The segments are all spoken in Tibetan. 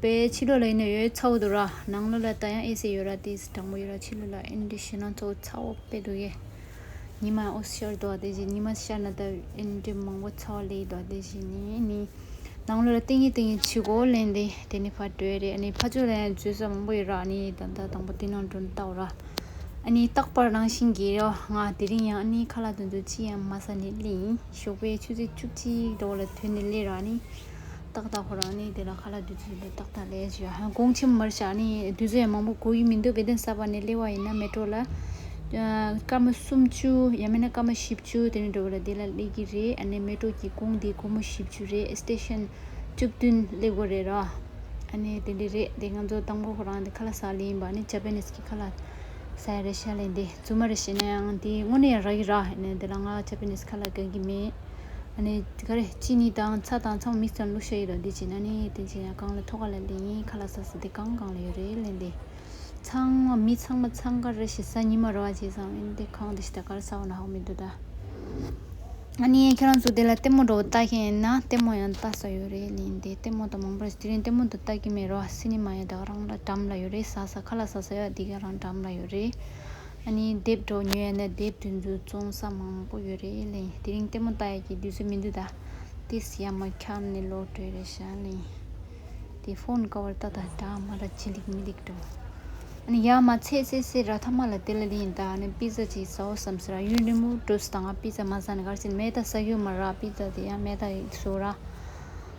པས་ཕྱི་ལོགས་ལ་ཡིན་ན་ཡོད་ཚ་བོ་འདུག་ར་ནང་ལོགས་ལ་ད་ཡང་ཨེ་སེ་ཡོད་ར་དེ་སི་དྲང་པོ་ཡོད་ར་ཕྱི་ལོགས་ལ་ཨིན་འདྲི་ཤེས་ན་ཚོ་ཚ་བོ་དཔེ་འདུག་གས། ཉི་མ་ཡང་ཨོ་སི་ཤར་འདུག་དེ་བཞིན་ཉི་མ་སི་ཤར་ན་ད་ཨིན་འདྲི་མང་པོ་ཚ་བོ་ལེགས་འདུག་དེ་བཞིན་ནི་ནི། ནང་ལོགས་ལ་ཏིང་ངེ་ཏིང་ངེ་ཕྱི་གོ་ལེན་དེ་དེ་ནི་ཕར་འགྲོའི་རེད་ཨ་ནི་ཕར་ཕྱོགས་ལ་ཡང་བརྗོད་ས་མང་པོ་ཡོད་ར་ཨ་ནི་ད་ལྟ་དང་པོ་དེ་ནང་འགྲོ་ལྟ་བུ་ར། ཨ་ནི་རྟག་པར་རང་བཞིན་གྱིས་རོ་ང་དེ་རིང་ཡང་ཨ་ནི་ཁ་ལག་དོན་དུ་ཅི་ཡང་མ་ཟ་ནི་ལེ་ཡིན་ཞོགས་པའི་ཆུ་ཚོད་བཅུ་གཅིག་འགྲོ་བ་ལ་དོན་དེ་ལེ་ར་ཨ་ནི། ཏག་ཏག་ཁོ་རང་ནི་དེ་ལ་ཁ་ལ་བདུད་རྩི་ལས་ཏག་ཏག་ལས་ཞེས་ཧོང་ཀོང་ཆེན་མོ་མར་ཞག་ནི་བདུད་རྩི་ཡང་མང་པོ་དགོས་ཀྱི་མི་འདུག་དགེ་ལྡན་གསར་པ་ནས་སླེབས་པ་ཡིན་ན་མི་སྤྲོ་ལ། སྐར་མ་སུམ་བཅུ་ཡང་མིན་ན་སྐར་མ་བཞི་བཅུ་དེ་ནས་འགྲོ་བ་ལ་དེ་ལ་སླེབས་ཀྱི་རེད་ཨ་ནེ་མི་སྤྲོ་ཀྱི་ཀོང་དེ་སྒོར་མོ་བཞི་བཅུ་རེད་སྟེཤེན་བཅུ་བདུན་སླེབས་དགོས་རེད་རོ། ཨ་ནེ་དེ་འདྲས་རེད་དེ་ང་ཚོ་དང་པོ་ཁོ་རང་དེ་ཁ་ལ་ཟ་ལེ་ཡིན་པ་ནི་ཇཱ་པན་ནིས་ཀྱི་ཁ་ལ་ཟ་ཡ་རེད་ཤ་ལེ་འདི་རྫུན་མ་རེད་བྱས་ན་ཡང་དེ་དངོས་གནས་ཡང་རག་གི་ར་ཨ་ནེ་དེ་ལ་ང་ཇཱ་པན་ནིས་ཁ་ལ་དགའ་གི་མེད། ནི། ག་རེ། ཅི་ནི་དང་ཚ་དང་ཚ་བོ་མིག་ཙམ་བླུགས་ཤ་ཡིན་རོ་འདི་བྱས་ན་ནི། དེ་བྱས་ན་གང་ལ་ཐོག་ག་ལ་ལེན་ཡིན་ཁ་ལ་ས་ས་དེ་གང་གང་ལ་ཡོད་རེད་ལན་དེ། ཚང་བ་མི་ཚང་མ་ཚང་ག་རེ་ཞེ་ས་ཉི་མ་རོ་བ་བྱས་ཙང་མིན་དེ་གང་དེ་ཞེ་ད་ག་རེ་ས་བོ་ན་ཧོ་མི་འདུག་ད། ཨ་ནི་ཁྱེད་རང་ཚོ་དེ་ལ་ལྟད་མོ་འགྲོ་བ་ལྟ་མཁན་ཡིན་ན་ལྟད་མོ་ཡང་ལྟ་ས་ཡོད་རེད་ལན་དེ་ལྟད་མོ་དང་མང་པོ་རེད་དེ་རིང་ལྟད་མོ་དང་ལྟ་གི་མེད་རོ་སི་ནི་མ་ཡང་ད་ག་རང་ལ་འགྲམ་ལ་ཡོད་རེད་ས་ས་ཁ་ལ་ས་ས་ཡོད་ཨ་དེ་ག་རང་འགྲམ་ལ་ཡོད་རེད། ནི་དེབ་གྲོགས་ཉོས་ཡ་ནི་དེབ་དེ་ཚོའི་བཙོང་ས་མང་པོ་ཡོད་རེད་ལེ་དེ་རིང་ལྟད་མོ་ལྟ་ཡ་གི་དུས་ཚོད་མི་འདུག་ད་ལྟའི་སི་ཡ་མ་ཁྱབ་ནས་ལོག་བྲོས་རེད་ཤག་ལེ་དེ་ཕོན་ཀ་བར་ད་ད་དྲ་མ་ར་ཇི་ལེགས་མི་ལེགས་དྲོ་ཨ་ནི་ཡ་མ་ཚད་ཚད་ཚད་ར་ཐ་མ་ལ་དེ་ལ་ལེ་ཡིན་ད་ཨ་ནི་པིས་ཛ་ཅིག་ཟའོ་བསམ་སེ་ར་ཡུན་རིང་མོ་བྲོས་སོ་ད་ང་པིས་ཛ་མ་ཟ་ནི་གར་སེ་ནི་མེ་ད་ཟ་གྱོ་མ་ར་པིས་ཛ་དེ་ཡ་མེ་ད་ཟོ་ར།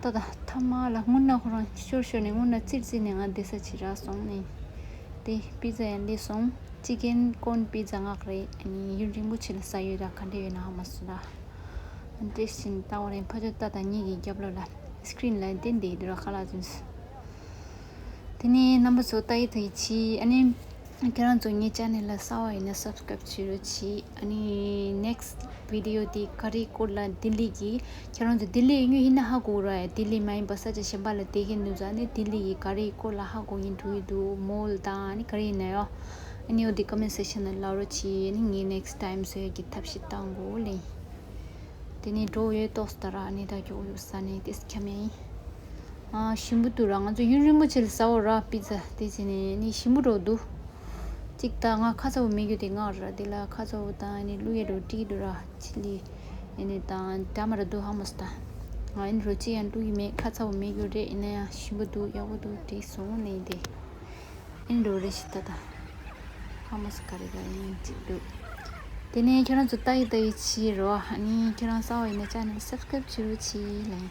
ད་ད། ཐ་མ་ལ་སྔུན་ནག་ཁོ་རང་ཤོར་ཤོར་ནས་སྔུན་ནག་ཙིར་ཙིར་ནས་ང་བདེ་ས་ཆི་རག་སོང་ནི། དེ་སྤུས་རྩ་ཡང་ལེགས་སོང། སྤྱི་རྒན་དཀོན་སྤུས་རྩ་ངག་རེད་ཨཱནི་ཡུན་རིང་པོ་ཆི་ལ་ས་ཡོད་ར་ག་འདྲེ་ཡོད་ནའང་མ་སུ་ར། དེ་བཞིན་ལྟ་བ་རེད་ཕ་ཆོ་ཏ་དང་གཉིས་ཀྱི་རྒྱབ་ལོག་ལ Screen ལ་དེ་འདི་དུ་ར་ཁ་ལག་ཟུན་སོང། དེ་ནས་རྣམ་པ་ཚོ་ཏ་ཡི་ཐུ་ཡི་ཆི་ཨཱནི། ཁྱེད་རང་ཚོ་ངའི channel ལ་གསལ་བ་ཡིན་ན subscribe བྱེད་རོགས་གྱིས་ཨ་ནི next video དེ་ཀ་རི་ཀོར་ལ་ལྡི་ལི་གི་ཁྱེད་རང་ཚོ་ལྡི་ལི་ཡིན་ཡོད་ཡིན་ན་ཧ་གོ་ར་ཡ་ལྡི་ལི་མ་ཡིན་པ་ས་ཆ་གཞན་པ་ལ་བསྡད་ཀྱི་འདུག་ས་ནི་ལྡི་ལི་ཡི་ཀ་རི་ཀོར་ལ་ཧ་གོ་གི་འདུག་ཡོད་འདུག mall དང་ཨ་ནི་ཀ་རི་ཡིན་ན་ཡང་ཨ་ནི་ཡོད་དེ comment section ལ་ལབ་རོགས་གྱིས་ཨ་ནི་ངའི next time བཟོ་ཡག་གི་ཐབས་ཤེས་བལྟ་འགོ་ལེ་དེ་ནས་འགྲོ་ཡོད་ཏོག་ས་ད་ར་ཨ་ནི་ད་ཀྱོག་ཡོད་ས་ནི་དེ་སྐྱ་མེ་ཡིན། ཤིང་བུ་དུ་ར་ང་ཚོ་ཡུན་རིང་པོ་ཕྱིན་ལ་ས་འོག་ར་སྤི་ཚ་དེ་བྱས་ནས་ནི་ཤིང་བུ་འགྲོ་འདུག་གཅིག་ད་ང་ཁ་ཚ་བོ་མི་རྒྱུ་དེ་སྔགས་ར་དེ་ལ་ཁ་ཚ་བོ་དང་ནི་ཀླུ་ཡས་རོ་དྲི་དུ་ར་ཆི་ལི་ཡས་ནི་དང་དྲ་མ་ར་འདུག་ཧ་མོ་སི་ད་ང་ཡིན་རོ་ཅི་ཡང་ཀླུ་ཡི་མེད་ཁ་ཚ་བོ་མི་རྒྱུ་རེད་ཡིན་ན་ཡང་ཤིང་བུ་འདུག་ཡག་པོ་འདུག་དྲི་བཟུང་ནི་དེ་ཨིན་རོ་རེ་ཤི་ད་ད་ཧ་མོ་སི་ཀ་རེ་ག་ཡིན་གཅིག་འདུག་དེ་ནས་ཁྱེད་རང་ཚོ་ལྟ་ཡི་ལྟ་ཡི་ཕྱིར་རོ་ཨ་ནི་ཁྱེད་རང་ས་འོག་ཡིན་ན་ཅག་ནི་སབ་སྐེབ་བྱེད་རོ་ཆི་ལེ།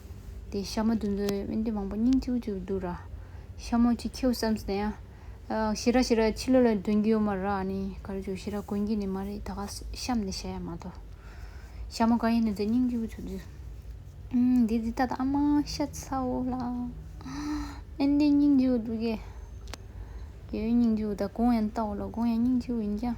དེ་ཤ་མོ་དུ་འཛོལ་བས་དུས་མང་པོ་སྙིང་ཆུ་བོ་ཆུ་བོ་འདུག་ར། ཤ་མོ་ཅིག་ཁྱེའུ་བསམས་ཟིན་ཡང། ཤི་ར་ཤི་ར་ཕྱི་ལོ་ལ་འདོན་རྒྱུ་ཡོད་མ་ར་ནི་ག་རེ་བྱུང་ཤི་ར་གོན་གྱི་ནི་མ་རེད་ད་ག་བཤམས་ནས་བཤད་ཡ་མ་ཐོ། ཤ་མོ་ག་ཡིན་ནུ་ཚེ་སྙིང་ཆུ་བོ་ཆུ་བོ། འདི་འདི་ལྟ་ད་ཨ་མ་ཤ་ཚ་བོ་ལ། ཨན་ཏེ་སྙིང་ཆུ་བོ་འདུག་གས། ཁྱེའུའི་སྙིང་ཆུ་བོ་ད་གང་ཡང་ལྟ་བ་ལ་གང་ཡང་སྙིང་ཆུ་བོ་ཡིན་ཀྱང།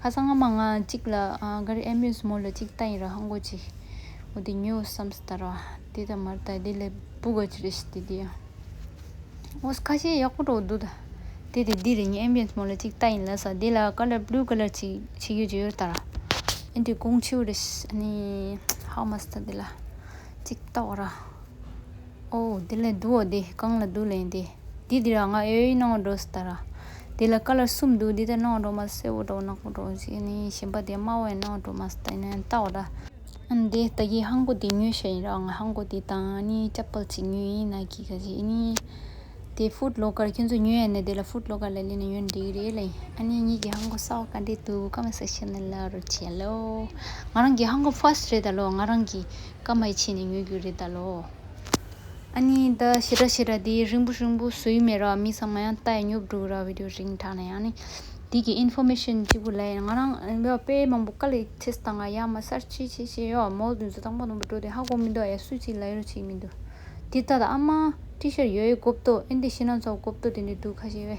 ཁ་སང་ཨ་མ་ང་གཅིག་ལ་འགའ་རེ་ཨེ་མོས་མོ་ལ་གཅིག་ལྟ་ཡིན་ར་ཧང་གོ་གཅིག་འོ་དེ་ཉོས་བསམ་སེ་ད་ར་བ་དེ་ལྟ་མ་ར་ད་དེ་ལས་པུ་ག་ཅི་རེད་ཤི་དེ་དེ་ཡང་འོ་ཁ་ཤས་ཡག་པོ་རོགས་འདུག་ད་དེ་དེ་དེ་རེད་ཉིན་ཨེ་མོས་མོ་ལ་གཅིག་ལྟ་ཡིན་ལ་ས་དེ་ལ་ཀ་ལ་བླུ་ག་ལ་གཅིག་ཕྱི་གོས་ཅི་ཡོད་ལྟ་ར་ཨེ་འདི་ཀོང་ཆེའུ་རེད་ཤི་ཨ་ནི་ཧའོ་མ་སི་ད་དེ་ལ་གཅིག་ལྟ་བ་ར། ཨོ་དེ་ལས་འདུག་འོ་དེ་གང་ལ་འདུག་ལན་དེ་འདི་འདི་ར་ང་ཨེ་ཡོད་སྣང་བ་འགྲོ་སི་ད་ར། དེ་ལ་ཀ་ལ་གསུམ་འདུག་འདི་ལྟར་སྣང་བ་འགྲོ་མ་སི་སེར་བོ་འདྲ་བོ་ནག་པོ་འདྲ་བོ་ཞིག་ནི་གཞན་པ་དེ་དམར་བོ་ཡང་སྣང་བ་འགྲོ་མ་སི་ད་ནི་རྟ་བོ་འདྲ། ཨན་དེ་ལྟ་གི་ཧང་གོ་དེ་ཉོས་ཤ་ཡིན་ར་ང་ཧང་གོ་དེ་དང་ནི་ཅག་པལ་ཅིག་ཉོས་ཡིན་ན་གི་ག་ཞིག་ནི། དེ་ཧྥུད་ལོ་ཀར་ཁྱོད་ཚོ་ཉོས་ཡ་ནི་དེ་ལ་ཧྥུད་ལོ་ཀར་ལ་ལས་ནི་ཉོས་ནི་འགྲིག་གི་རེད་ལ་ཡིན་ཨ་ནི་ཉིད་ཀྱི་ཧང་གོ་སའོ་ག་འདྲས་འདུག་ག་མ་སི་ཤི་ནི་ལ་རུ་བྱས་ལོ། ང་རང་གི་ཧང་གོ་ཧྥུ་ཨས་རེད་ད་ལོ་ང་རང་གི། སྐར་མ་ཡི་ཕྱེད་ནི་ཉོས་རྒྱུ་རེད་ད་ལོ། ཨ་ནི་ད་ཤི་ར་ཤི་ར་དེ་རིང་པོ་རིང་པོ་བཟོ་ཡི་མེད་ར་མི་ཚང་མ་ཡང་ལྟ་ཡི་ཉོབ་འགྲོ་གི་ར་བིད་ཡོ་རིང་དྲག་ན་ཡང་ནི། དེ་གི information གཅིག་པུ་ལས་ང་རང་དཔེ་མང་པོ་དཀའ་ལས་ཁྲིད་སྟངས་ང་ཡག་མ་གསར་ཅི་བྱེད་བྱེད་ཡོ་མོ་བཟོ་སྟངས་པ་ནོར་བུ་འགྲོ་དེ་ཧ་གོ་མི་འདུག་ཡ་སུས་ཚིག་ལ་ཡོ་རུ་ཆིག་མི་འདུག་དེ་ལྟ་ད་ཨ་མ། ཏི་ཤར་ཡོ་ཡོ་གོ་བཏོ་ཨིན་དེ་ཤི་ན་ཚོགས་གོ་བཏོ་དེ་འདྲས་འདུག་ཁ་ཤེ་བས།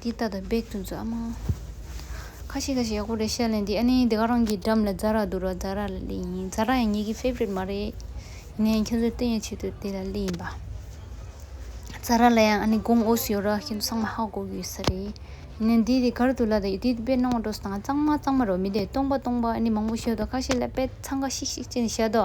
འདི་ལྟ་སྟེ་སྦེག་ཏུ་འཛུལ། ཨ་མ། ཁ་ཤས་ཁ་ཤས་ཡག་པོ་རེད་བཤད་ལན་འདི་ཨ་ནེ་འདི་ག་རང་གི་འགྲམ་ལ་རྫ་རག་འདུག་རོགས་རྫ་རག་ལ་གླེ་ཡིན་རྫ་རག་ཡང་ངེད་ཀྱི favorite མ་རེད། ཡིན་ན་ཡང་ཁྱོད་ཚོའི་བསྟོད་སྙད་ཆེད་དུ་དེ་ལ་གླེ་ཡིན་པ། རྫ་རག་ལ་ཡང་ཨ་ནེ་དགོངས་ཨོ་སི་ཡོད་ར་ཁྱོད་ཚོ་ཚང་མ་ཧ་གོ་གི་ཡོད་ས་རེད། ཡིན་ན་འདི་དེ་གར་དུ་ལ་དེ་དཔེ་སྣང་བ་འགྲོ་སོང་ཨ་གཙང་མ་གཙང་མ་རེད་མི་དེ་སྟོང་པ་སྟོང་པ་ཨ་ནེ་མང་པོ་ཤོད་དོ་ཁ་ཤས་ལ་དཔེ་ཚང་ཁ་ཤིག་ཤིག་ཅེས་ནས་བཤད་དོ།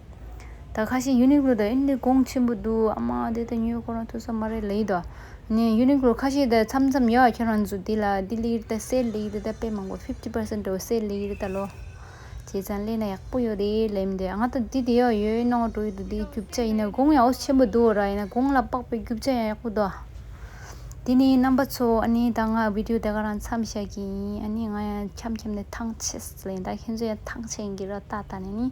ད་ཁ་ཤས་ཡུ་ནིག་ལོ་དང་ཨིན་ལི་གོང་ཆེན་པོ་འདུག་ཨ་མ་དེ་ལྟ་ཉོས་ཁོ་རང་ཐུག་ས་མ་རེད་ལེ་ད། ནས་ཡུ་ནིག་ལོ་ཁ་ཤས་དེ་འཚམ་འཚམ་ཡོད་ཁྱོད་རང་ཚོ་དེ་ལ་ལྡི་ལིར་དེ་སེ་ལི་དེ་ད་དཔེ་མང་པོ fifty percent དུ་སེ་ལི་དེ་ད་ལོ། བྱས་ཙང་ལས་ན་ཡག་པོ་ཡོད་རེད་ལེ་མི་འདོད་ང་ད་དེ་དེ་ཡོད་ཡོད་ནང་འགྲོ་ཡི་འདུག་དེ་རྒྱུག་ཆ་ཡིན་ན་གོང་ཡང་ཨོ་ཆེན་པོ་འདུག་ར་ཡིན་ན་གོང་ལ་དཔག་པའི་རྒྱུག་ཆ་ཡང་ཡག་པོ་འདུག་དེ་ནས་རྣམ་པ་ཚོ་ཨ་ནེ་ད་ང་བིདིའོ་དེ་ག་རང་འཚམ་བྱ་གི་ཡིན་ཨ་ནེ་ང་ཡང་འཁྱམ་འཁྱམ་ནས་ཐང་ཆད་ལེ་ད་ཁྱེད་ཚོ་ཡང་ཐང་ཆད་ཡིན་གྱི་ར་ད་ད་ནས་ནི།